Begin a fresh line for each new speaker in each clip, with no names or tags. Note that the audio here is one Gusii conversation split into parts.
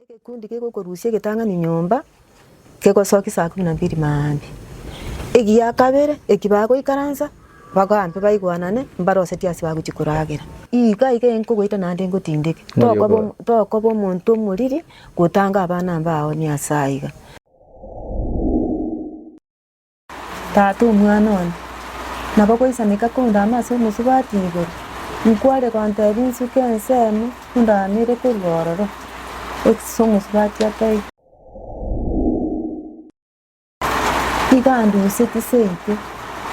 Egekundi kegokorusia egetang'ani nyomba kegosokia saa kumi na mbiri maambia. Egiya kabere eki bagoikaransa bagampe baigwanane mbare gose tiasi bagochia koragera. Iga iga enkogoita naende ngotindeke, tokoba om- tokoba omonto omoriri gotanga abana mbao Nyasae iga. Tata omwana one, nabo goisaneka kondama ase omosubati igoro, nkware gontebia insuke ensemo ondamere korwa ororo, Exit Omosubati ataiga. Iga andusie tiseiti,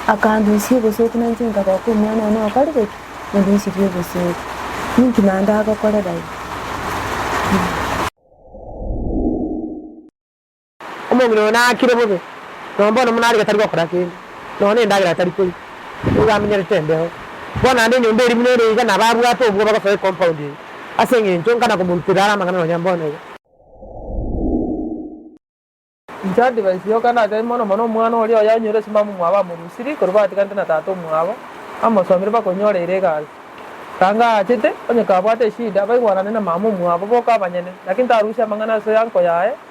akandusia obosooku na inche nkaboka omwana one okorire ki? Ondusirie obosooku. Ninki naende agokorera igo? Omong'ina oyo naakire bobe, na mbono buna are gatari gokora kende, nonya nendagera atari koria, nigo amenyerete embeho. Bono naende enyomba eria buna ere iga nababwate obwoba gosoa ecompoundi eye, ase engencho nkana komorutera are amang'ana nonya mbono iga. Inche advice yoka natebi mono mono omwana oria oye anyure ase mama omwabo amorusiri korwa batiganete na tata omwabo, amosomire baka onyoreire egasi. Ranga aachete, onye kabwate eshida, baigwanane na mama omwabo boka abanyene, lakini tarusia amang'ana ase uncle yaye,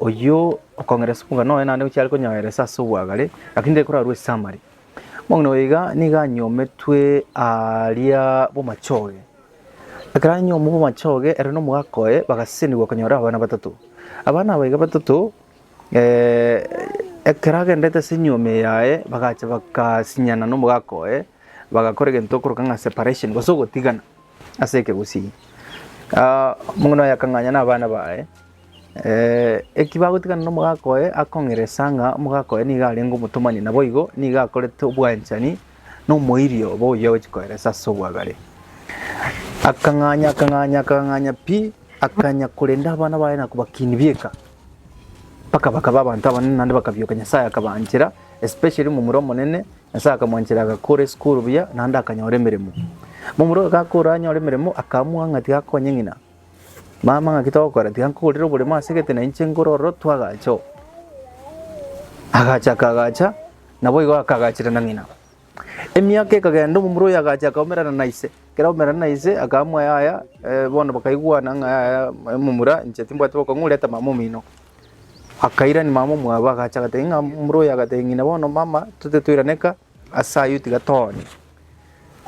Oyio okong'eresa omong'ina oye naende gochia are konyoeresa ase obwagare, lakini tari korarue ase amari. Omong'ina oyo iga nigo anyometwe aaria bw'amachoge. Ekero anyomwa bw'amachoge ere na omogaka oye bagasesenigwa konyora abana batato. Abana aba iga batato ekero agendete ase enyiomi yaye bagacha bagasinyana na omogaka oye bagakora egento korokana na separation gose ogotigana. ase ekegusii, omong'ina oye akang'anya nabana baye, eki bagotigana nomogaka oye akong'eresa ng'a omogaka oye nigo arenge omotomani naboigo nigo akorete obwanchani na omoerio obo oyio agochia koeresa ase obwagare. Akang'anya akang'anya akang'anya pi, akanya korenda abana baye na kobakinia bieka, mpaka bakaba abanto abanene naende bakabioka Nyasaye akabaanchera especially momura omonene Nyasae akamwanchera agakora esukuru buya naende akanyora emeremo. Momura oyo gakora anyore emeremo akaamua ng'a tiga akonye ng'ina. Mama ng'aki togokora tiga nkogorere oboremo ase egete na inche nkore ororo twagacha oo. Agacha akagacha naboigo akagachera na ng'ina. Emiaka ekagenda omomura oyo agacha akaomerana na ise. Ekero aomerana na ise akaamua yaya eh, bono bakaigwana ng'a yaya momura inche timbwate bokong'u reta mama omino. Akairani mama omwabo, agacha agatebia ng'a omura oyo agatebia ng'ina, bono mama tote toiraneka ase ayio tiga toonye.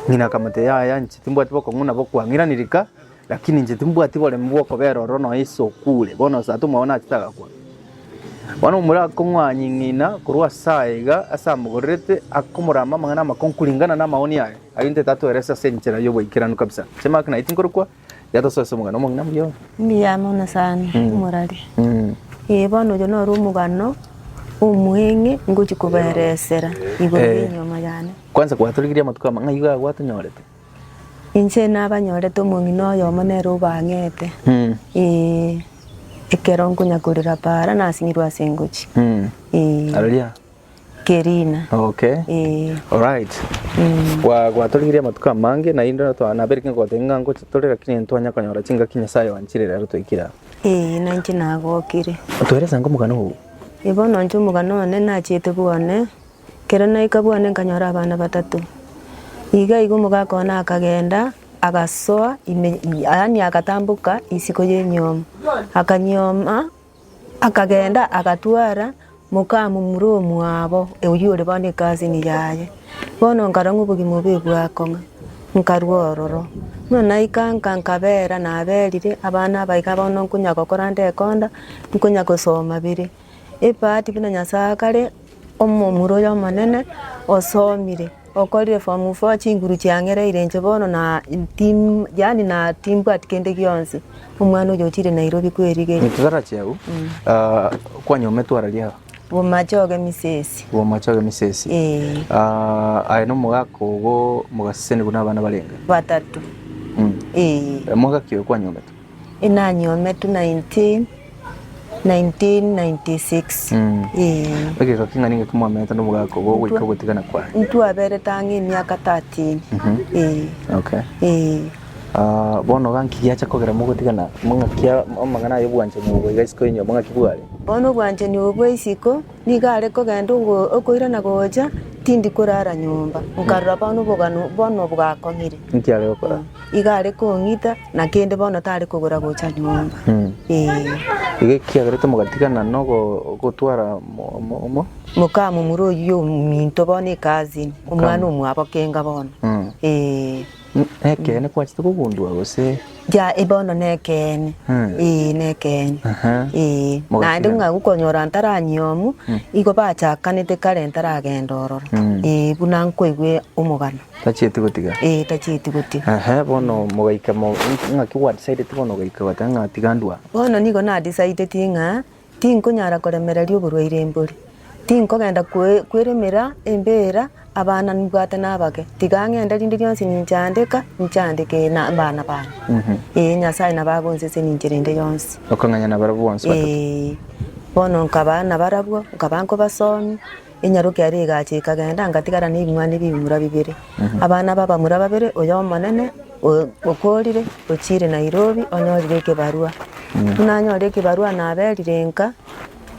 Ng'ina akamotebia yaya inche timbwati bokong'u nabo kwang'irani rika, lakini inche timbwati boremu bw'okobera ororo nonya ase okure, bono osato omwabo nachete agakwa. Bono omura akong'wanyia ng'ina korwa ase aya iga ase amogorerete, akomoramba amang'ana amakong'u kuringana na amaoni aye, ayio intwe tatweresa ase enchera y'obwaikeranu kabisa. Inche mama ekero naiyete nkorokwa. Yatosoa ase omogano omong'ina mbuya oo. Mbuya mono sana, morari. Ee, bono oyo noro omogano omweng'e ngochia kobaeresera igoro Eh. y'enyiomo yane. Kwanza gwatorigirie amatuko ama ng'a iga gwatonyorete. Inche nabanyorete omong'ina oyomo nere obang'ete. Mm. Ee, ekero nkonyakorera para nasing'irwe ase engochi. Mm. Ee. Aroria kerina Okay. ee. Alright. Mm. Gwa gwatorigirie amatuko amange naende notwa nabere king'e goteba ng'a ngochi tore lakini ntwanya konyora chingaki Nyasaye oanchire rero toikire aa. Ee nainche nagokire. Toeresa ango omogano oo. Ee bono inche omogano one nachiete bwane, kero naika bwane nkanyora abana batato. Iga iga omogaka one akagenda agasoa ime yaani agatamboka isiko ya enyioma, akanyioma Akagenda agatwara mokamomura omwabo, oyio ore bono ekasini yaye. Bono nkarora ng'a obogima obo ebwa kong'a, nkarua ororo. Buna naika nka nkabera naberire, abana aba iga bono nkonya gokora nde ekonda, nkonya gosoma bire. Ebahati buna Nyasae akare, omomura oyo omonene osomire. Okorire form four chinguru chiang'ereire inche bono na tim yaani na timbwati kende gionsi omwana oyo ochire Nairobi kwerigeria. Nitutarachi agwo ah, kwanyomete orari agwo Bomachoge misesi. bwomachoge misesi Eh. Ah, aye nomogaka ogo mogaseseni buna abana barenge batato Mm. eh. Eh, mogaka oyo kwanyomete Inanyometwe 1996. Egeika king'a nigo ekimwamenyete nobogaaka obo goika ogotigana kwaye. Intwaberete ang'e emiaka 13. Okay. Ah, bono iga nki giacha kogera mogotigana? Mang'aki amang'ana ay'obwanchani obo iga isiko yenyiobo ng'aki bware? Bono obwanchani obo bwa isiko. Nigo are kogenda okoira na gocha, tindi korara nyomba. Nkarora bono obogano bono bwakong'ire. Inki are gokora? Igo are kong'ita, na kende bono tare kogora gocha nyomba. Ee. Iga ekiagerete mogatigana nogo- gotwara omo- omo- omo? Mokamomura oyio ominto bono ekazini, omwana omwabo kenga bono. Ee. Nekeene kwachete kogundua gose? Gia, eh, bono nekeene, eh, nekeene, eh. Naende ng'a gokonyora ntaranyiomwa, igo bachakanete kare ntaragenda ororo, eh, buna nkoigwe omogano. Tachieti gotiga? Eh, tachieti gotiga. Ehe, bono mogaika mo, ng'aki gwa decideti bono ogaika goteba ng'a tiga ndwaa? Bono nigo na decideti ng'a. Tinkonyara koremereria oborwaire mbori, tinkogenda kweremera embeera abana nbwate nabake, tiga ng'ende rinde rionsi ninchandeka, nchandeke nabana bane. Ee, Nyasae nabo agonsesenia inche rinde yonsi. Okong'anya nabarabwo bonsi batete. Ee, bono nkaba nabarabwo, nkaba nkobasomia, Enyaroke yaria egacha ekagenda, ngatigara nebing'wana bi'ebimura bibere. Abana b'abamura babere, oyo omonene okorire ochiire Nairobi onyorire ekebarua. Buna anyorire ekebarua naberire nka,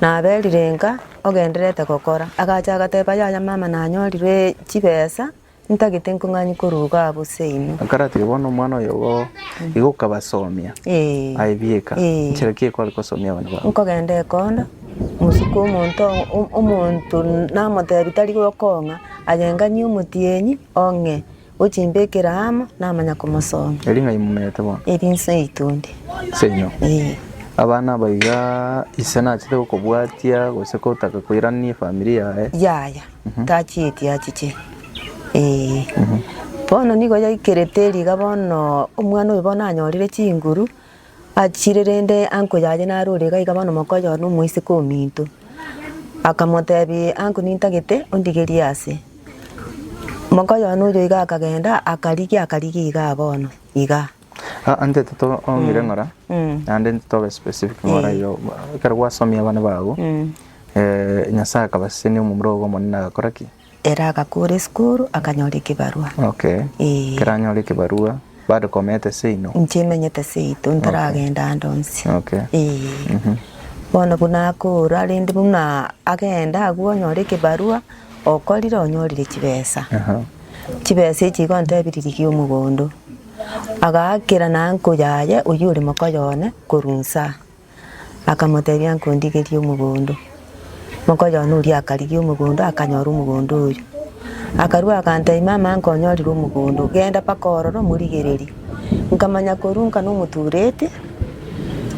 naberire nka ogendererete gokora. Agacha agateba, Yaya mama nanyorirwe chibesa. Ntagete nkong'anyi korwa iga abo seino. Akaratiga bono omwana oyo igo igo okabasomia Ee. aye bieka Ee. nchera ki ekore kosomia abana babo? Nkogenda ekondo mosuke omonto o- omonto namotebi tari gokong'a aye nganyie omotienyi ong'e ochimbekere amo namanya komosomia. Eri ng'ai momerete bono? Eri inse yaito ende. Seino. Ee. Abana aba igaa ise nachete gokobwatia gose kotaka koirania efamiri yaye. Yaya. tachieti achiche, ee. Bono nigo yaikerete riga bono omwana oyo bono anyorire chinguru, achire rende uncle yaye nare ore iga iga bono omoko oye na omoiseke ominto. Akamotebia uncle nintagete ondigerie ase. Mokoyone oyo iga akagenda akarigia akarigia igaa bono igaa. Aa ntete tong'ire ng'ora naende ntobe specific ng'ora iga ekero gwasomia abana bago Nyasae akabasesenia omomura ogo omonene agakora ki? Ere agakora esukuru akanyora ekebarua. Okay. Ee. Ekero anyora ekebarua bado komenta ase inwe? Inche emenyete ase yaito ntaragenda ande onsi. Okay. Ee. Bono buna akora rende buna agenda agwo onyore ekebarua okorire onyorire chibesa. Chibesa echi igo ontebirie rigia omogondo. Agaakera na nko yaye oyio ore mokoyo one korwa inse aa, akamotebia, Nkondigerie omogondo. Mokoyo one oria akarigia omogondo, akanyora omogondo oyio. Akarua agantebia, Mama, nkonyorire omogondo, genda mpaka ororo omorigererie. Nkamanya korwa inka nomotureti,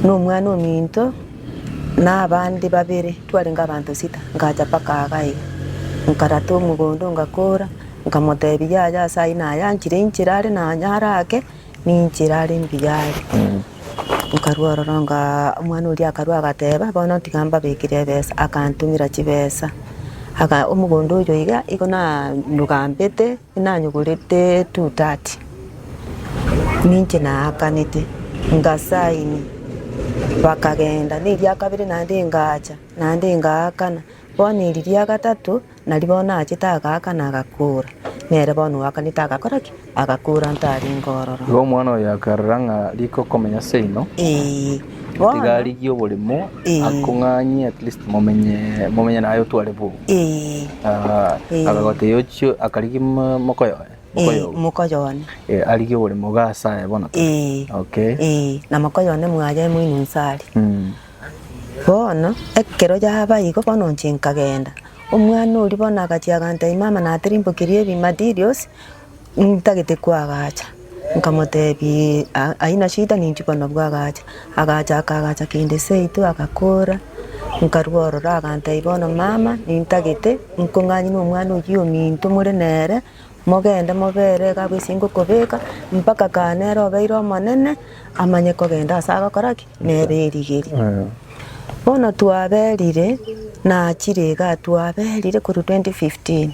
na omwana ominto, na abande babere, twarenge abanto sita, ngacha mpaka aaga iga. Nkarata omogondo, ngakora. Nkamoteebia, Yaya ase ayio naye anchire inchera are naye are ake, ninchera are mbuya are. Nkarua ororo nga omwana oria akarua agateeba, Bono tiga mbabekere ebesa. Akantumera chibesa. Aka omogondo oyo iga igo na nyogambete, nanyogorete two thirty. Ninche naakanete, nga sign, bakagenda. Na eria kabere naende ngacha, naende ngaakana. Bono eri ria gatato, Nari bono achete agaakana, agakuura. Nere bono oakanete agakora ki? Agakuura ntarenge ororo. Igo omwana oyo akarora ng'a riko okomenya seino, Ee, bono. tiga arigie oborimo, Ee. akong'anyie at least momenye momenye naye otware bwogo. Ee, Ah, Ee. akagotebia ochio akarigia mo- mokoyoe ee, mokoyoe mokoyone. Eh, arigie oborimo iga ase aye bono tore. Ee. Okay. Ee, na mokoyone mwaye moino inse aria. Mm. Bono ekero yaba igo, bono inche nkagenda. Omwana oria bono agachia agantebi, mama natirimbokiri ebi materials, ntagete koagacha. Nkamotebi "Ha- haina shida ninki bono abwo agacha. Agacha akaagacha kende seito agakora, nkarwa ororo agantebi bono mama, nintagete, nkong'anyine omwana oyio ominto more nere. Mogende mobeere iga bwesinka okobeka, mpaka kaa nere obeire omonene, amanye kogenda ase agokora ki? Nere erigeri. Bono twaberire, nachire igaa twaberire korwa 2015,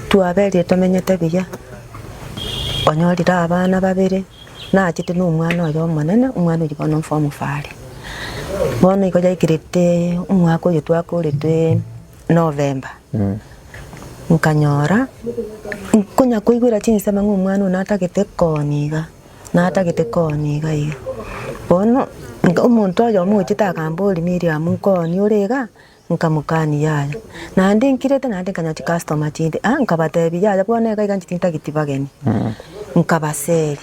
twaberire tomenyete buya, onyorire abana babere, nachete na omwana oye omonene, omwana oyio bono form four are. Bono igo yaikirete omwaka oyo twakorete. Novemba, nkanyora nkonya koigwera chinsemo ng'a omwana oyo natagete kooni iga, natagete kooni iga iga. Bono nka- omonto oyomo ogochete akambori Miriam nkooni ore iga, nkamokani yaya. Naende nkirete naende nkanya chicustomers chinde, ah nkabatebi yaya bono iga iga nchiti ntageti bageni. Nkabaseria,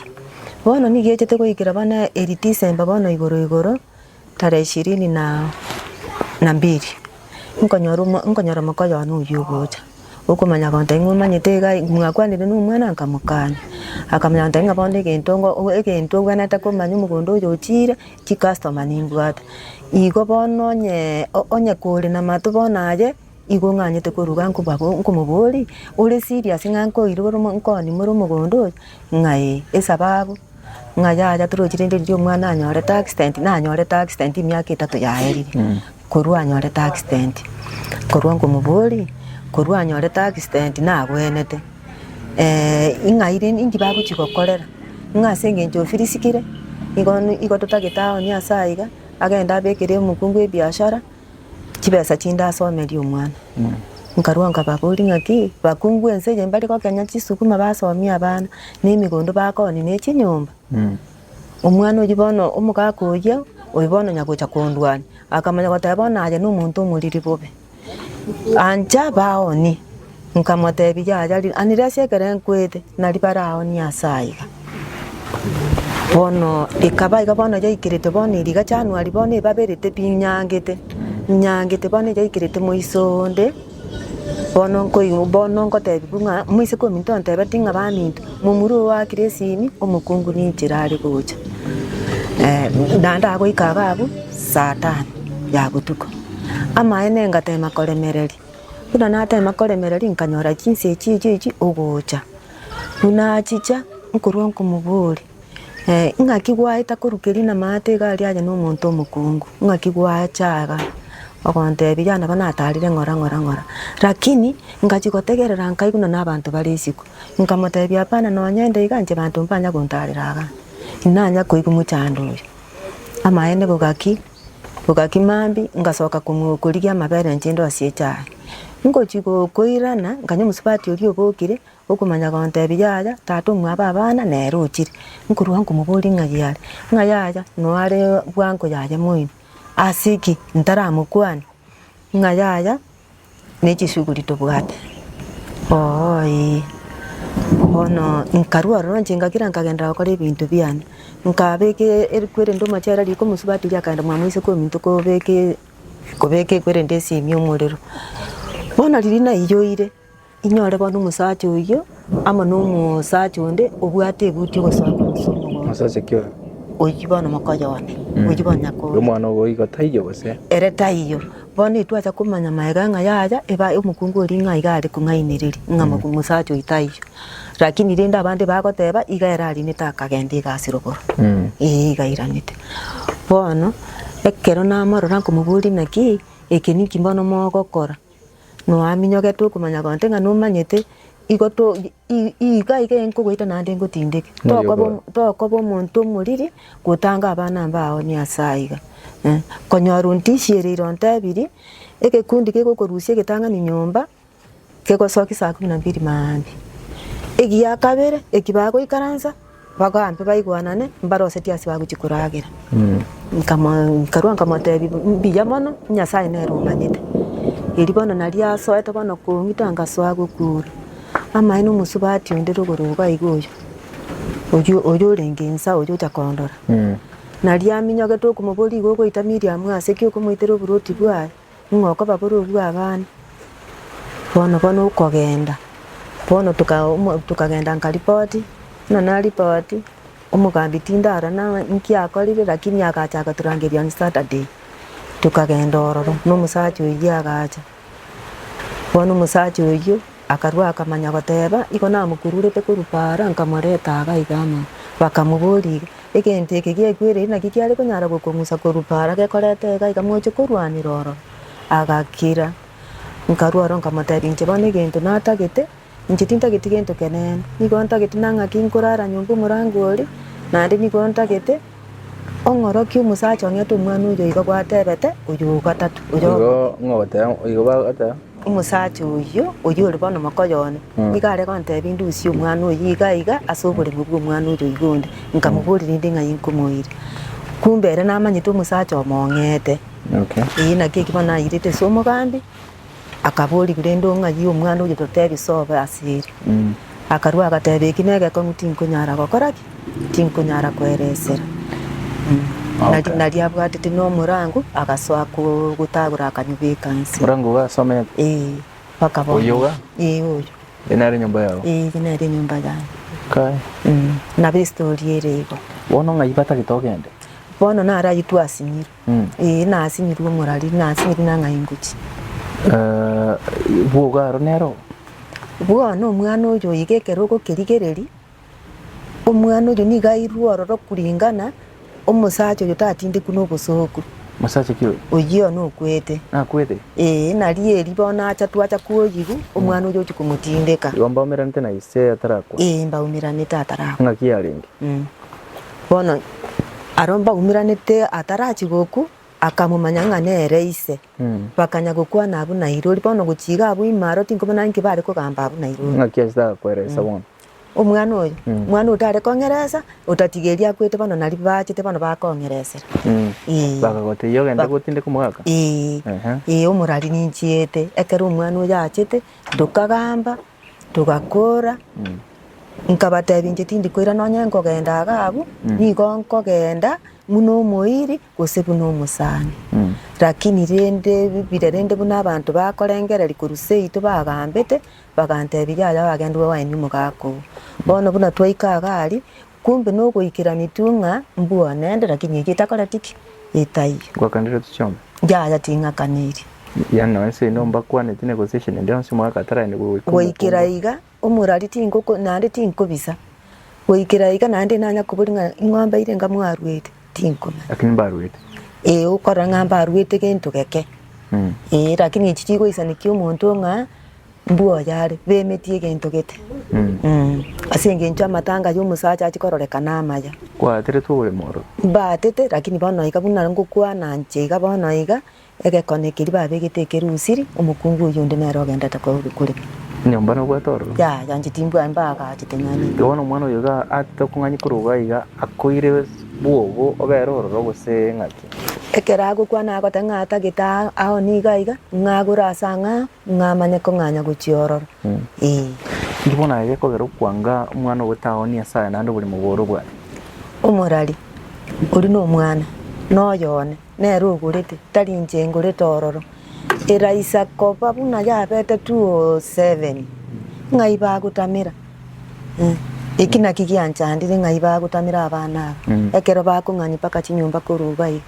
bono nigo egechete goikera bono eri December bono igoro igoro, Tarehe ishirini na mbili, nkonyora omoko one oyio ogocha, okomanya gonto aye ng'omanyete iga aye, mwakwanire na omwana? Nkamokania. Akamanya gonto aye ng'a bono egento ngo egento obwenerete komanya omogondo oyo ochire, chicustoma nimbwate. Igo bono onye onye kore namato bono aye. Igo ng'anyete koruga nkomoboria ore serious ng'a nkoirwe ore nkonima ore omogondo oyo ng'a ee, esababu ng'a yaya torochire rende riria omwana anyorete accident, nanyorete accident emiaka etato yaerire korwa anyorete accident. Korwa nkomoboria korwa anyorete accident nagwenete ing'aire ninki bagochia gokorera ng'a ase eng'encho ofirisikire igo totagete aye onye ase aiga agende abekere omokungu ebiashara. Chibesa chindasomeria omwana. Nkarua nkababoria ng'aki bakungu ense eye mbare gokenya chisukuma basomie abana, ne emigondo bakoni ne chinyomba. Omwana oyio bono omogaka oyio oyo bono onya gocha kondwania, akamanya goteba bono aye nomonto omoriri bobe. Ancha baonie. Nkamoteebia, Yaya, ri'anire ase ekero nkwete, na ribare ao ni'aase aiga. Bono ekaba iga bono yaikerete bono eriga January bono ebaberete pi inyangete, inyangete bono yaikerete moiso onde, bono nkoigwa bono nkotebiwa ng'a moiseke ominto ontebetie ng'a baminto, momura ogo akire esimi, omokungu ninchire are gocha. na ndagoika iga abwo saa tano ya botuko. Amaene ngateema koremereria. Buna nateema koremereria nkanyora chinsa echio echio echio ogocha. Buna achicha nkorwa nkomobori, eh, ng'aki gwaeta korukeria namaate iga aria aye nomonto omokungu, ng'aki gwacha iga ogontebia ya nabo natarire ng'ora ng'ora ng'ora. Lakini ngachia gotegerera nkaigwa buna nabanto bare isiko. Nkamotebia hapana nonya inde iga inche banto mbanya gontarera iga, inanya koigwa mochando oyo. Amaene igo gaki. Ogaki mambia ngasoka komwokorigia amabere inche inde ase echae. Ngochia gokoirana nkanya omosubati oria obokire, okomanya gontebia yaya tata omwabo abana nere ochire. Nkorwa nkomoboria ng'ai are, ng'a yaya noare bwango yaye moino. Ase ki? Ntaramokwane? Ng'a yaya Ne chisuguri tobwate? Oo, ee. Bono nkarua ororo inche ngakira nkagenderera gokora ebinto biane. Nkabeka e- ekwerende omochere riko omosubatiria akaenda omwami oiseke ominto kobeka e- kobeka ekwerende esiimi omorero. Bono riria naiyoire. Inyore bono omosacha oyio amo nomosacha onde obwate ebuti ogosoa korusia omogondo oyio bono mokoyone, oyio bono nyakore. Omwana obo igo taiyo gose? Ere taiyo. Bono itwacha komanya magega ng'a yaya eba omokungu oria ng'a iga are kong'ainereria ng'a omosacha oyio taiyo. Rakini rende abande bagoteba iga ere arinete akagenda iga ase rogoro. Ee iga airanete. Bono ekero namorora nkomoboria naki eke ninki bono mogokora? noaminyogetwe okomanya konte ng'a nomanyete, igo to i- i- iga iga enkogoita naende ngotindeke. Moyo Tokoba bwa- omo- tokoba omonto omoriri gotanga abana mbao niase aiga. Eh, konyora ontishiereire ontebirie, egekundi kegokorusia egetang'ani nyomba, kegosoki saa kumi na mbili maambia. Egiakabere eki bagoikaransa. Bagoampe baigwanane, mbare ose tiasiba agochia koragera. Nkarua nkamotebia, Mbuya mono, Nyasae nere omanyete. Eri bono nario asoete bono kong'ita ngasoa gokuura. Amaene omosubati onde rogoro iga iga oyio, oyio oyio orenge insa oyio ocha kondora. Nario aminyogeto okomoboria iga ogoita Miriamu ase ki okomoitera oboroti bwaye? Ng'a okobabororua abana, bono bono okogenda. Bono tokagenda nkaripoti, buna naripoti, omogambi tinde aro nang'e nki akorire lakini agacha agaturangeria on Saturday. Tokagenda ororo na omosacha oyio agacha. Bono omosacha oyio. Akarua akamanya goteeba, Igo namokururete korwa Paara, nkamoreta aa gaiga amo. Bakamoboria, Iga, egento eke giaigwereire naki kiare konyara gokong'usa korwa Paara gekorete iga iga moche korwanera ororo? Agakira. Nkarua oro nkamoteebia, Inche bono egento natagete, inche tintageti gento keneene, nigo ntagete na ng'aki nkorara nyomba omorango oria, naende nigo ntagete ong'orokie omosacha ong'ete omwana oyo igo gwateebete, oyo o gatato, oyo o Igo bono. ng'ogoteba, igo bagoteba. Omosacha oyio, oyio ore bono mokoyone, nigo are gontebia indusie omwana oyio iga iga ase oboremu bw'omwana oria oiga onde, nkamoboria rende ng'ai nkomoiria. Kumbe ere namanyete omosacha omong'eete. Ee, naki eki bono nairete ase omogambi, akaborigwa rende ong'ai omwana oyio totebi sobo ase ere. Akarua agateebia, Eki negetong'u tinkonyara gokora ki? Tinkonyara koeresera. Nari nari abwatete nomorango, agasoa gotagora akanyobeka inse. Morango iga asomete? Ee, mpaka bono. Oyio iga? Ee, oyio. Eye nere enyomba yao? Ee, eye nere enyomba yane. Kai. Nabo estory ere igo. Bono ng'ai batagete ogende? Bono nare aywo twasinyire. Ee, nasinyiru omorari, nasinyiru nang'ai ingochi. Eh, bwogo aro nero. Bwona omwana oyo oiga ekero ogokerigereri, omwana oyo nigo airwe ororo kuringana omosacha oyo tatindekwu nobosoku. Mosacha ki oyo? Oyio nokwete. Nakwete? Ee, nari eri bono acha twacha kwoyigu, omwana oyo ochi komotindeka. Igo mbaumeranete na ise atarakwa. Ee, mbaumeranete atarakwa. Ng'aki yarenge? Bono aro mbaumeranete atarachie goku, akamomanya ng'a nere ise. Bakanya gokwana abwo nairori. Bono gochia iga abwo ime aro tinkobona inki bare kogamba abwo nairori. Ng'aki ase tarakoeresa bono? Omwana oyo, omwana otare kong'eresa, otatigeiri akwete bono nario baachete bono bakong'eresera. Ee. Bakagotebia ogende Ba- gotindeka omogaka? Ee, Ehe. ee omorari ninchiete. Ekero omwana oyo achete, ndokagamba, Togakora, nkabatebia inche tindi koira nonye nkogenda iga abwo, nigo nkogenda buna omoiri gose buna omosani. Lakini rende bire rende buna abanto bakorengereria korwa seito bagambete, bagantebia yaya oagende obe waye na omogaka oo. Bono buna twaika iga aria. Kumbe nogoikera mitwe ng'a mbua nende lakini eki etakoreti ki? Etaiyo. Ngwakanire otu chiombe. Yaya ting'akaniri. Yaya nonya nse ino mbakwaneti negosi echende endi yonsi omwaka ataragende goika omokungu. Goikera iga omorari tingoko naende tinkobisa. Goikera iga naende nanya kobori ng'a ing'ombe ire enga mwaruete tinkomanya. Lakini mbaruete. Ee okorora ng'a mbaruete gento geke. Ee lakini echi chigoisanekia omonto ng'a Mbwoyare, bemetie egento gete, ase engencho amatanga y'omosacha achia kororekana amaya. Kwaateretwe oboremo oro. Mbaatete, lakini bono iga buna ngokwana nche iga bono iga, egekone keria babegete ekerusiri, omokungu oyio onde nere ogendete korwa kore. Nyomba nobwate ororo. Yaya, nche timbwai mbaagachete ng'ani. Igo bono omwana oyo iga aachete okong'anyia korwa iga iga, akoire bwogo obere ororo gose ng'aki? Ekero agokwana agoteba ng'a atagete aa, ao nigo aiga, ng'a agure ase ang'ao, Ng'a amanye kong'anya gochia ororo, ee. Inki bono aye gekogera okwanga omwana owe taoni Nyasae naende oborimo bore obwate? Omorari, oria nomwana, noyo one, nere ogorete, tari inche ngorete ororo. Eraisa koba buna yabete 207, ng'ai bagotamera? Eki naki gianchandire ng'ai bagotamera abana aba, ekero bakong'anywa mpaka chinyomba korwa iga iga.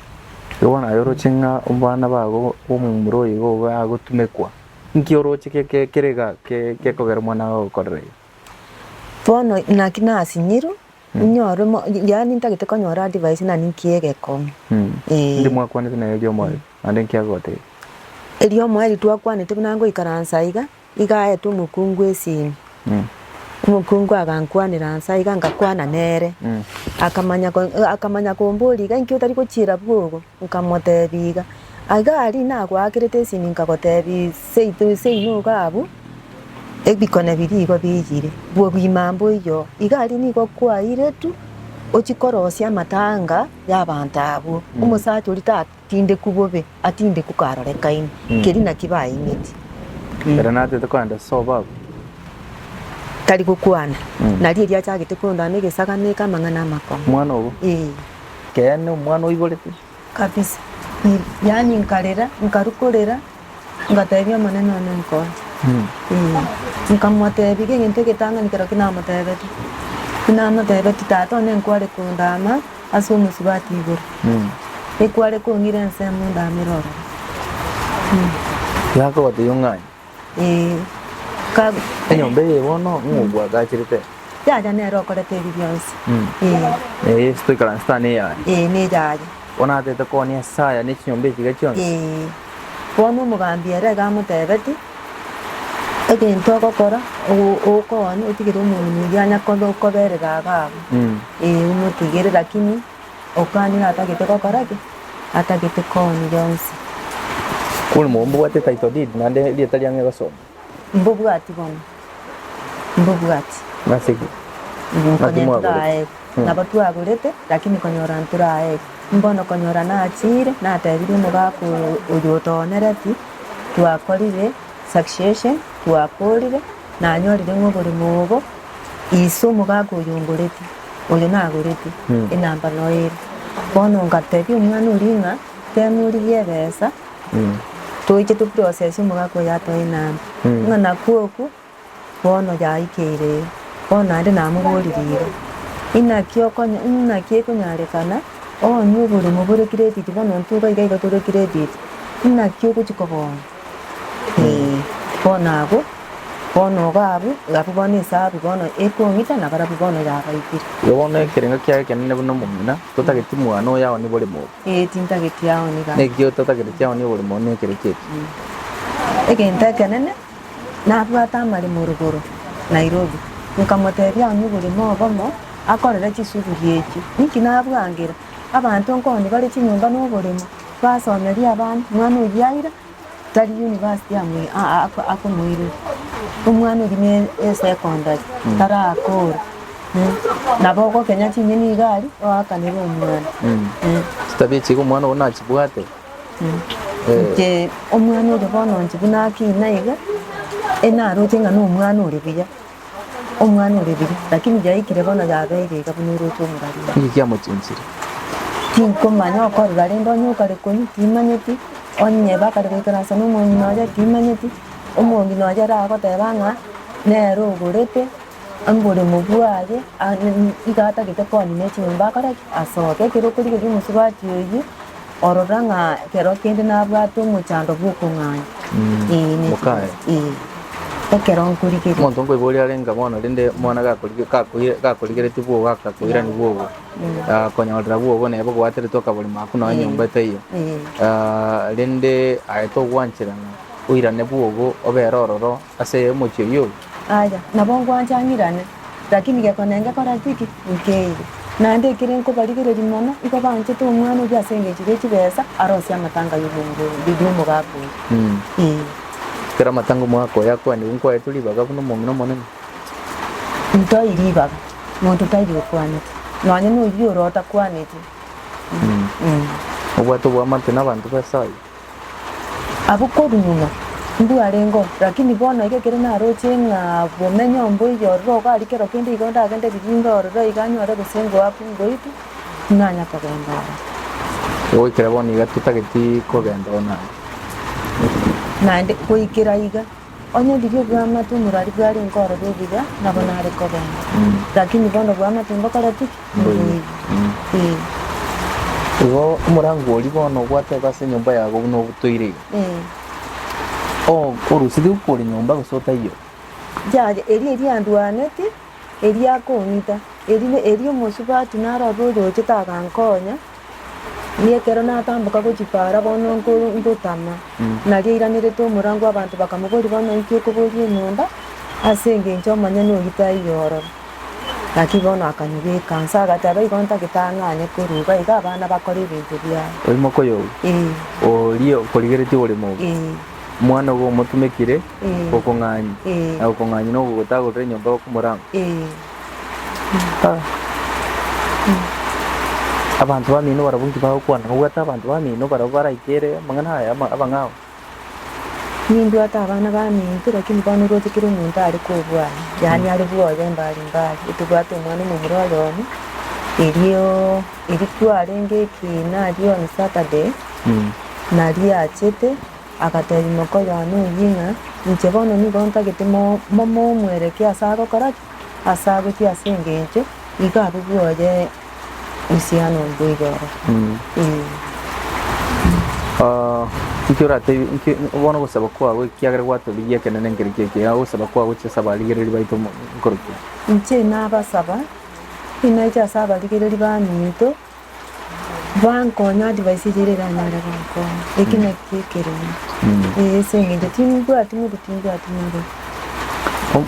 Igo naye oroche ng'a abana bago b'omomura oyo igo bagotumekwa. Inki oroche kerega gekogera omwana oo gokorera igo? Bono naki nasinyiru, inyore, yaani ntagete konyora advice na ninki egekong'u. Ee. Indi mwakwanete naye eriomoyo, naende inki agogotebia? Eriomoyo eri twakwanete buna ngoikaransa iga, Iga aete omokungu esimi, omokungu agankwanera anse aiga ngakwana nere. Akamanya akamanya komboria iga inki otari gochiera bwogo? Nkamotebia iga. Aiga aria nagoakerete esimi nkagotebia seito seino iga abwo, ebikone biria igo biyire, bwogima mboiyo. Iga aria nigo kwaire tu ochie korosia amatanga y'abanto abwo. Omosacha oria ta. Tindeku bobe, a tindeku karorekaine, keri naki baimeti. Ere natete kogenda ase obaba. Tari gokwana. Nario erio achagete kondana egesagano eke amang'ana amakong'u. Omwana obo? Ee. Keene omwana oiborete. Kabisa. Yaani nkarera, nkaru korera. Ngateebia, Omonene, one nkonya. Nkamoteebia, Egento egetang'ani kerokio namoteebete, tinamoteebeti Tata one nkware kondaama ase omosubati igoro, ekware kong'ira ensemo ndaamere ororo. Gakobotebia, Ong'aane. Ee. Ka- Enyomba eye bono ng'o bwagachirete? Yaya nere okorete ebi bionsi. Ee. Eye toikaranse tane eyaye. Ee, ne yaya. Bono natete koa Nyasae ane chinyomba echi iga chionsi? Ee. Bono omogambi ere akamoteebeti, Egento ogokora, ogokoonye otigere omorwoni oyio anya kobe koberera abe abo, ee, omotigere, lakini okanire atagete gokora ki? Atagete kooni yonsi. Kore mobwate title deed naende erieta riang'ee gosomwa. Mbobwati bono, mbobwati. Nase ki? Naki mwagorete? Nabo twagorete, lakini konyora ntoraegwe. Mbono konyora nachiire, natebirie omogaka oyo otoonereti, twakorire succession, twakoorire, nanyorire ng'a oboremo obo ise omogaka oyo ongoreti, oyo nagoreti, enamba noyo ere. Bono ngatebia omwana oria ng'a temorigia ebesa. toiche to process omogaka oyo atoe nabi, ng'a nakwo okwo bono yaikeire iga. Bono naende namoboririe iga, inaki okonya inaki ekonyarekana oonye oboremo bore credit bono intwe iga iga tore credit, inaki ogochia kogoonya? Eeh. Bono abwo, bono iga abwo, iga abwo bono esabu bono ekong'ita na barabwo bono yabaitire. Igo bono ekerengo kiaye ekenene buna omong'ina, totageti mwane oyo aonye boremo obwo. Ee, tintageti yao nigo ake. Naki otatagereti yao nigo ore mono ekereki eke. Egento ekenene, nabwate amaremo rogoro Nairobi, nkamotebia onye oborimo obomo akorere chisuguri echio. Inki nabwangera? Abanto nkoni bare chinyomba noboremo, twasomeria abana, mwana oyio aira, Tari university akomoirera, omwana oria ne esecondary tarakora, nabo ogokenya ching'eni iga aria oakanere omwana. Chitabia echi iga omwana ogo nachibwate. Inche omwana oria bono inche buna akina iga, enaroche ng'a na omwana ore buya, Omwana ore bire, lakini yaikire bono yabeire iga buna oroche omorarua. Nki kiamochinsire? Tinkomanya okorora rende onye okare konywa timanyeti, onye bakare goikaransa n'omonyi nonya timanyeti, omongi nonya ere agoteba ng'a nere ogorete omoremo bwaye iga atagete koonina echinyomba akore ki? Asoke. Ekero okorigereria omosubati oyio. Orora ng'a ekero kende nabwate omochando bw'okong'aina, ee, ne Mokaye. chibesa, ee, ekero nkorigereria. Omonto nkoigwa oria arenga bono, rende omwana gakorige- gakoire- gakorigeretie bwogo akakoirania bwogo, akonyorera bwogo neba obwateretwe akaborimo ako nonye nyomba etaiyo. Ee. Ah, rende aye togwanchera ng'a oirane bwogo obere ororo. ase omochie oyio. Aye, nabo ngwancha ang'irane, lakini gekone ngekora tiki nkeire. Naende ekere nkobarigereria mono, igo banchete omwana oyio ase engencho ye chibesa arosie amatanga y'omogaka oyio. Ekero amatanga omogaka oyio akwanigwe, nkwaetwe ribaga buna omong'ina omonene. Ntoi ribaga, monto taiyo okwanete, nonya noyio ore otakwaneti. Obwate oboamate nabanto b'Esayo. Abwo korwa nyuma nigo arengeo, lakini bono iga ekero naroche ng'a bomenyo mboiyo ororo igo aria kero kende igo ndagende riringa ororo iga nyore gose ngoakwe ngoitwe, tinanya kogenda ororo. Goikera bono iga totageti kogenda ororo naende. Naende goikera iga Onye riria obwamate omorwari bware nkorora ebibe, nabo nare kobengwa, lakini bono obwamate mbokoreti ki? Mboigwe. Ee. Igo omorango oria bono gwateba ase enyomba yago buna obutoire iga. Ee. O- orosiri okore nyomba gose otaiyo. Yaya, erio eriandwaneti, Erio akong'ita. Erio omosubati narore oroche tagankonya, ekero natamboka gochia paara bono ngotama, nario airanerete omorango abanto bakamoboria bono inki okoboria enyomba ase engencho omonyene oyio taiyo ororo. Lakini bono akanyebeka nse agateba igo ntagitang'ane korwa iga iga abana bakore ebinto biabo. Oimoka oyobi? Ee. Oria okorigeretie ore moubi? Ee. Omwana ogo omotumekire? gokong'anya, na gokong'anya nogogotagorera enyomba y'okomorango. Abanto b'eamino barabwo inki bagokwana? Nobwate abanto b'eamino barabwo baraikere amang'ana aya ama- abang'ao? Nimbwate abana b'eaminto, lakini bono orwate kera omonto are kobwana, yaani are bwoye mbali mbali. Otobwate omwana omomura oyomo, erio erio kwarenge ekiina, aria on Saturday, naria achete. Agateebia ime okoyona eyio ng'a, Inche bono nigo ntagete mo momomwereke ase agokora ki? Ase abe ki ase engencho iga abwo bwoye usiano mboigo oro? Eeh. Inki oratebi inki bono ogosaba kwao ekiagera gwatorigia ekenene nkeri ki ekiya ogosaba kwao gochesa abarigereri baito mo nkoroki? Inche nabasaba, inache ase abarigereri baminto. Bankonya advice eria ere iranyare gonkonya. Eki naki ekerimo. Eh, ase eng'encho timbwati modu timbwati modu.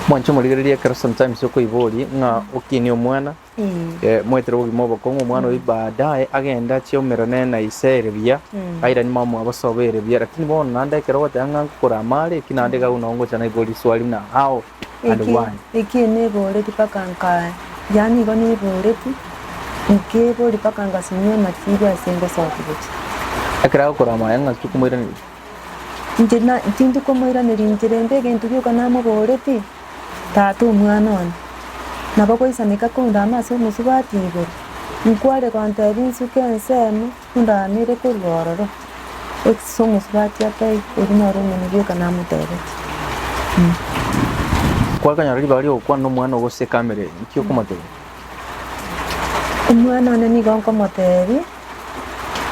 Mwanche morigererie ekero sometimes okoiboria ng'a okinie omwana Eh, eh, moetere obogima obokong'u omwana oyo baadaye agende achiaumera nere na ise ere buya Mm. airani mamoa bosoba ere buya lakini bono naende ekero ogoteba ng'a ngokora amare eki naende iga buna ongocha naiboria swali buna how and Eki, why? eki niboreti mpaka nka, yaani igo niboreti, nkebori mpaka ngasimia amasiri ase ngosoka gochia. Ekero agokora amaya ng'a tikomoiraneria. Inche na- tindi komoiraneria inche rende egento gioka namoboreti, Tata omwana one. Nabo goisaneka koundama ase omosubati igoro, nkware gontebia nsuke ensemo, Ndaanire korwa ororo, Exis omosubati atai, oria noro omoni bioka namoteebete. Kwakanyora ribaga ri'ogokwana nomwana o goseka amere, inki okomoteebia? Omwana one nigo nkomoteebia,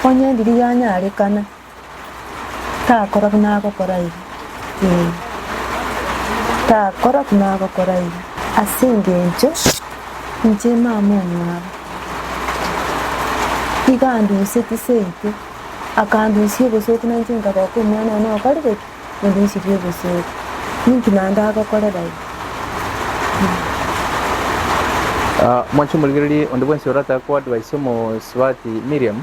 Onye ndiri yanyarekana, Takora buna agokora iga, ee, takora buna agokora iga, ase engencho inche mama omwabo iga andusie chiseito, akandusia obosooku nainche nkaboka omwana one okorire ki? Ondusirie obosooku. Ninki naende agokorera iga? Mwanche omorigererie onde bwensi orataka koadvisa omosubati Miriam.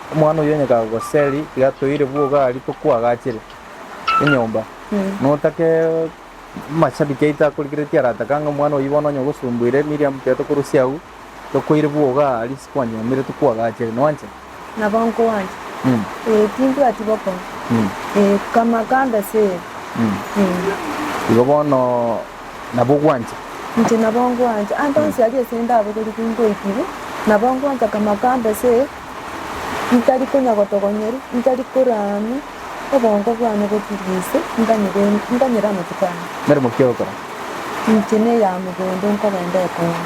Omwana oyio onye kagoseri, tiga toire bwoga aria tokwagachire enyomba. Notake amashabiki aito akorigeretie aratake ang'e omwana oyio bono onye ogosumbuire Miriam tiga tokorusia agwo, tokoire bwoga aria ase kwanyomire tokwagachire. Nwancha? Nabo nkogwancha. Mm. Ee, tindwati bokong'u. Mm. Ee, kama kande ase ere. Mm. Ee, Igo bono nabo ogwancha. inche nabo nkogwancha. Ande onsi aria ase ndabogorigwe ngoikigwe, nabo nkogwancha kama kande ase ere. Ntari konya gotogonyeru, ntari koraamia, obongo bwane boturie ise, nkanyebendi, nkanyere amatuko ane. Meremo ki ogokora? Inche n'eyaamo bondo nkogenda ekong'u.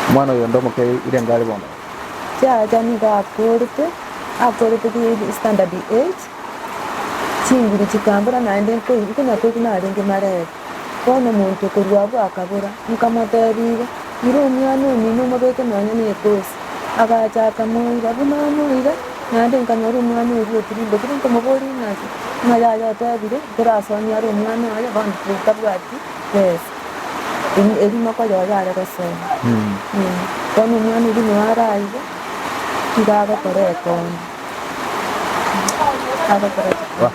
Omwana oyonde omoke ire ngare bono. Chiacha nigo akorete, akorete ki standard eight, chinguru chikambora naende nko- nkonyakoigwa narenge marebe. Bono omonto korwa abwo akabora. Nkamotebirie, Ira omwana omino omobeke nonya nekosi. Agacha akamoira. Buna amoire, naende nkanyora omwana oria otirimbe. Ekero nkomoboria ng'a naki, ng'a yaya otebire, nkorasonia are omwana oye, bono tabwati besa em- erimoko yaye are gosera. Ee. Bono omwana oria noo are aiga, iga agokora ekombe. Agokora ekombe.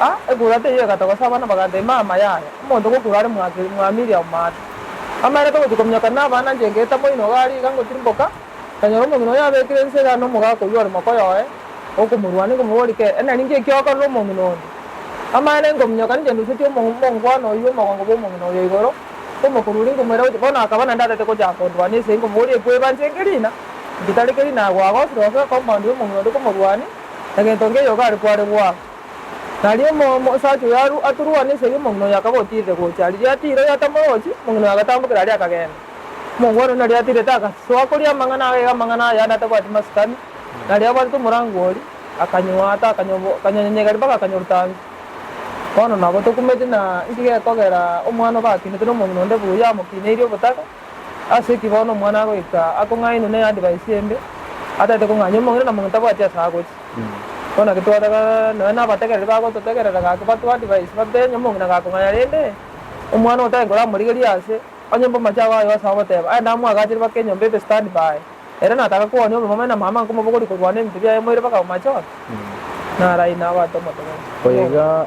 A ekura teiyo egata gose abana bagata ime ama yaye, omonto ogokura are mwake mwamiria omaato. Amaerete gochia kominyoka na abana nche ngeta moino iga aria iga ngotirimboka, nkanyora omong'ina oyo abekire ense iga nomogaka oyio ore mokoyo oye, okomorwania nkomoboria kei, Enari nki ekio okorire omong'ina onde? Amaene nkominyoka ninche ndusetie omongwana oyio omogongo bw'omong'ina oyo igoro, nkomokururi nkomoira gochia bono akaba naende atete gochaka kondwania ase nkomoboria ekweba nche nkerina? Inche tari kerina agwo agosire gose ekompound y'omong'ina onde komorwania? Egento nkeiyo gari kware goa. Nario omomo Sacho yarwa aturwa ne esegi omong'ina oyo akaba otiirire gocha. Riria atiire oyo atamorochi, omong'ina oyo agatambokera aria akagenda. Omongwana oino riria atiirete agasoa koria amang'ana agaiga amang'ana aya ande atabwati masikani, na riria abwatete omorango oria, akanywaata, akanywa nyanyegari mpaka akanywa rutangi. Bono nabo tokumeti na inki gekogera omwana obe akinetwe nomong'ina onde buya amokineirie obotaka. Ase ki bono omwana agoika akong'ainwa n'eyadvice embe, ataete kong'anywa omong'ina na omong'ina tabwati ase agochia? Bono naki twataka nonya nabategereri bagototegerera gaki batwa advice babere onye omong'ina gakong'anya rende omwana oyo tari koramorigeria ase onye mbe omochie ago aye ase ogoteba aye ndamwagachere mpaka enyomba ebe stand by ere nataka kowonia omomama na mama nkomobogori korwana ebinto biaye moire mpaka omochie one? Naraina abate omote bono. Oyo iga.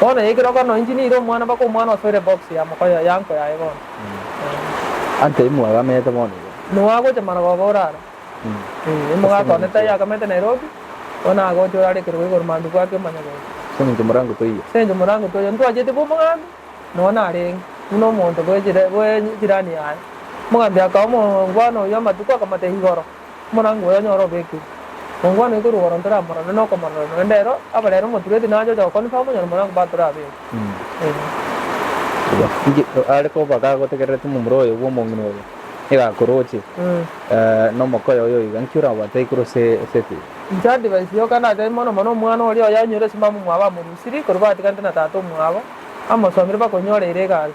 Bono ekero okona inche nire omwana mpaka omwana osoire box ya mokoyo ya nko yaye bono. Ante imwagamete bono iga. Noagocha marogoba orara. Ee. Omogaka one tai agamete Nairobi, bono agocha orara ekerogo igoro mambia bwaki omonyabera. Ase eng'encho morango toiyo. Ase eng'encho morango toiyo. Ntwachete bwa omogambi, nonya narenge, buna omonto bwe jirani yaye. Omogambi akaoa omongwana oyio amatuko akamotebia igoro. Omorangi oyo onyore obeke omokwana oito rogoro ntoramorore nokomorora noende ero abarere omotureti nache ocha goconfirm onye nomorangi bwa torabeeke. Inki are koba gagotegerereti momura oye bw'omong'ina oyo nigo akoroche nomokoyo oyo iga? Inki orabwate igoro ase eke? Inche advice yoka nachae mono mono omwana oria oye anyore esimamo omwabo amorusiri korwa batiganete na tata omwabo amosomire bakonyoreire egari.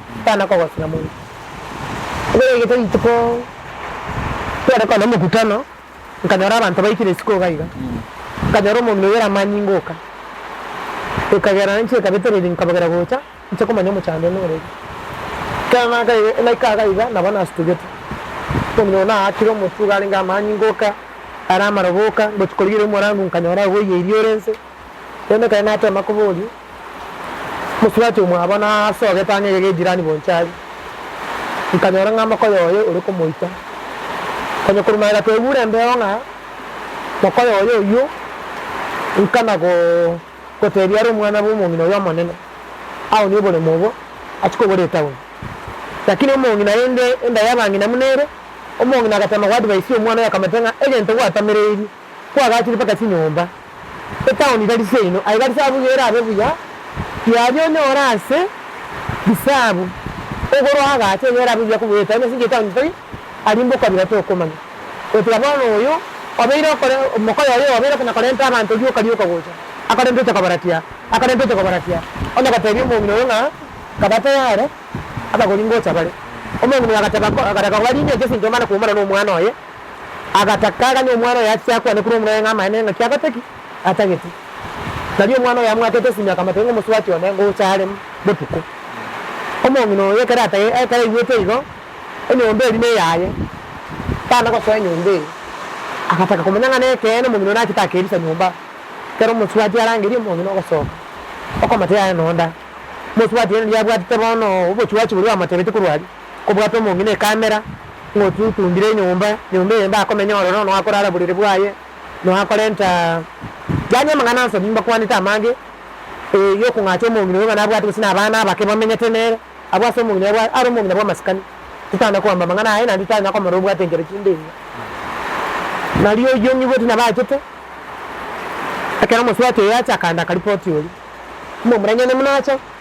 Bana kogosira mono. Ekeregete rituko tware korwa nomokutano, nkanyora abanto baikire isiko iga iga, nkanyora omomia oyo ore amanyinga ogoka, ekagera inche ekabetera ebi nkabogera gocha inche komanya omochando one ore ere. Ekero naka naika iga iga nabo nasutugete, omomia oyo naakire omotwe iga arenge amanyinga oka, are amaroba oka, ngochi korigereria omorango nkanyora oboiyeiri ore inse, rende ekero natema koboria. Mosubati omwabo na ase ogetang'e eke g'ejirani bonsi aria, nkanyora ng'a mokoyo oye ore komoita. Konya korwa magega twebura embeo ng'a mokoyo oye oyio, nkana gotebia are omwana bw'omong'ina oyo omonene, Aonie oboremo obo, achie kogora etauni. Lakini omong'ina aye inde enda y'abang'ina buna ere, omong'ina agatema goadvaisia omwana oyo akamotebia ng'a egento gwatamereirie. Kwagachire mpaka chinyomba, etaoni tari seino, aye tari saabwo iga erabe buya, kiaria onyore ase risaabu ogoro agacha enye erabe buya kobua etaoni, ase enchera etaoni tari aria mboka kabira tokomanya. Gotiga bono oyo obeire okore, omokoyo oyo obeire okona korenta abanto rioka rioka gocha, akarenta ocha kobaratia, akarenta ocha kobaratia, onye gotebia omong'ina oyo ng'a kabatae are, abagori ngocha bare. Omong'ina oyo agateba ko, agataka kobaringeria ase enchera mbare koumana nomwana oye. agataka, aganya omwana oye ache akwane korwa omorero ng'a amaene ng'aki agotaki, atagete. Tari omwana oyo amwakete esimi akamotebia ng'a omosubati one ngocha are botuko. Omong'ina oyo ekero atagete, ekero aigwete igo, enyomba eria neyaye, tana gosoa enyomba eye. Agataka komanya ng'a nekeene omong'ina oyo nachete akerusia nyomba. Ekero omosubati arangeria omong'ina ogosoka, okomotebia aye nonda. Omosubati oye riria abwatete bono obochuachi boria bamotebete korwa aria, kobwate omong'ina ekamera, ng'a otutundire enyomba, nyomba eye ndakomenya ororo noakorara buriri bwaye, noakorenta yaani amang'ana ase obonge mbakwanete amange, ee, yokong'acha omong'ina oyo ng'a nabwate gose nabana abake bamenyete nere, abwo ase omong'ina oyo are omong'ina bw'amasikani. Titana koamba amang'ana aye naende titana komorora obwate enchera chinde engiya. Nari oyio nigo tinabachete, ekero omosubati oyo acha akaanda akaripoti oria, mbwa, Omoraniani buna acha,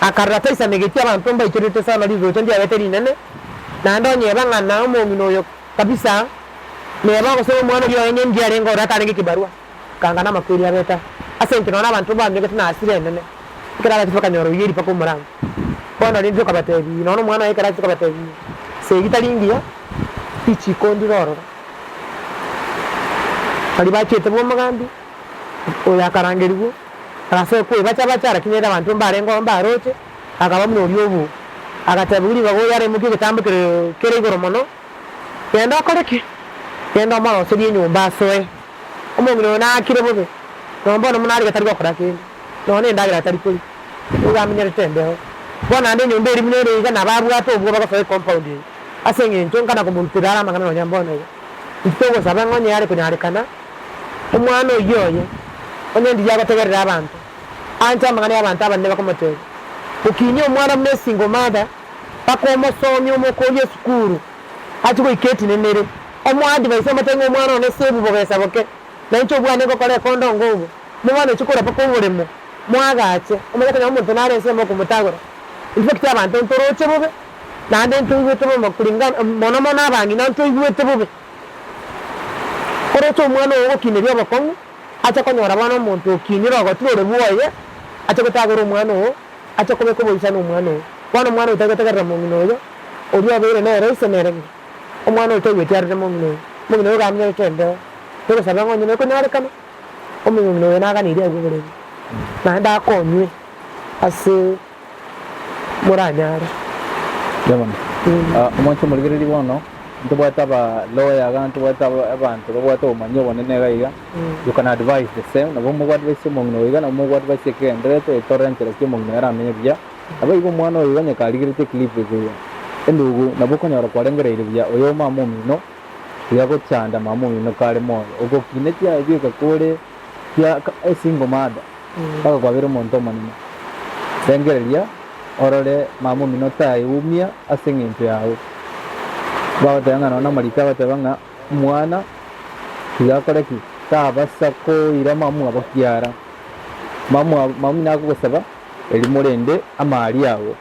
Akarora taisanigetie abanto mbaichorete soa na rirocho ndiagete rinene, naende onye eba ng'a na omong'ina oyo kabisa neba gose omwana oria oenye ndiye arenge ore atanege ekebarua, akangana amakweri abeta ase enchera nonya abanto banyogete na hasira enene, ekero agachia bakanyora oyio ripako omoranga. Bono rende okabatebi, nonya omwana oye ekero achire kobatebi ase eri tari ngiya, richiko ndire ororo. Baria bachete bwa omogambi, oyo akarangerigwe. Ase kw'ebacha bacha, arakinyerera abanto mbarengeo mbaroche, akaba buna oria obo. Agatebigwa ribaga oyo araimokie egetambo kere kere igoro mono, Genda okore ki? Genda omoroserie enyomba asoe. Omong'ina oyo naakire bobe, nonye bono buna are gatari gokora kende, nonye nendagera atari koria, nigo amenyerete embeo. Bono naende enyomba eria buna ere iga nabo abwate obwoba gosoa ecompoundi eye, ase engencho nkana komoruterera are amang'ana nonya mbono iga. Intitogosabe ng'o onye are konyarekana? Omwana oyio oye, onye ndiria agotegerera abanto, anche amang'ana y'abanto abanene bakomoteebia, Okinyie omwana buna esingo omathe, mpaka omosomie omokorie esukuru, achie goika etinenere. Omoadvise omote ng'a omwana one sebu bogesa boke, na inche obwane ngokora ekondo ngogwo, omobwane ochie korwa mpaka oboremo, moagache, omanye konya omonto nare ensemo okomotagora. Intwe baki chiabanto ntoroche bobe, naende ntoigwete bobe, mono mono abang'ina ntoigwete bobe. Oroche omwana oo ogokineria obokong'u, ache konyora bono omonto okinire ogotira ore bwoye, ache gotagora omwana oo, ache kobeka oboisa nomwana oo. Bono omwana oyo taigote gerera mong'ina oyo, oria obeire nere ise nere ng'a omwana oyo taigweti arere mong'ina oyo. Mong'ina oyo gamenyore kendeo, togosabe ng'a onye nekonyorekana omong'ina oyo naganeirie agwo oborendi, naende akonywe ase. moranyare. Inche bono, omwancha omorigereria bono, ntobwate aba lawyer iga, ntobwate abanto babwate obomanyi obonene iga iga, you can advise the same, nabo omo advice omong'ina oyo iga, nabo omo advice ekegendererete, etore enchera ki omong'ina oyo aramenye buya. Nabo igo omwana oyo iga onye karigereti eclip eke iga, endugu nabo okonyora kwarengereire buya, oyo omama omino, tiga gochanda mama omino kare moyo, ogokinetie aye bieka kore. Tia a single mother mpaka kwabera omonto omonene. Rengereria orore mama omino taeumia ase eng'encho yao. Bagoteba ng'a nonya omorito agoteba ng'a mwana tiga akore ki? Tabasa koira mamwabo kiara. Mamwabo, mama omino agogosaba erimo rende amaaria ago.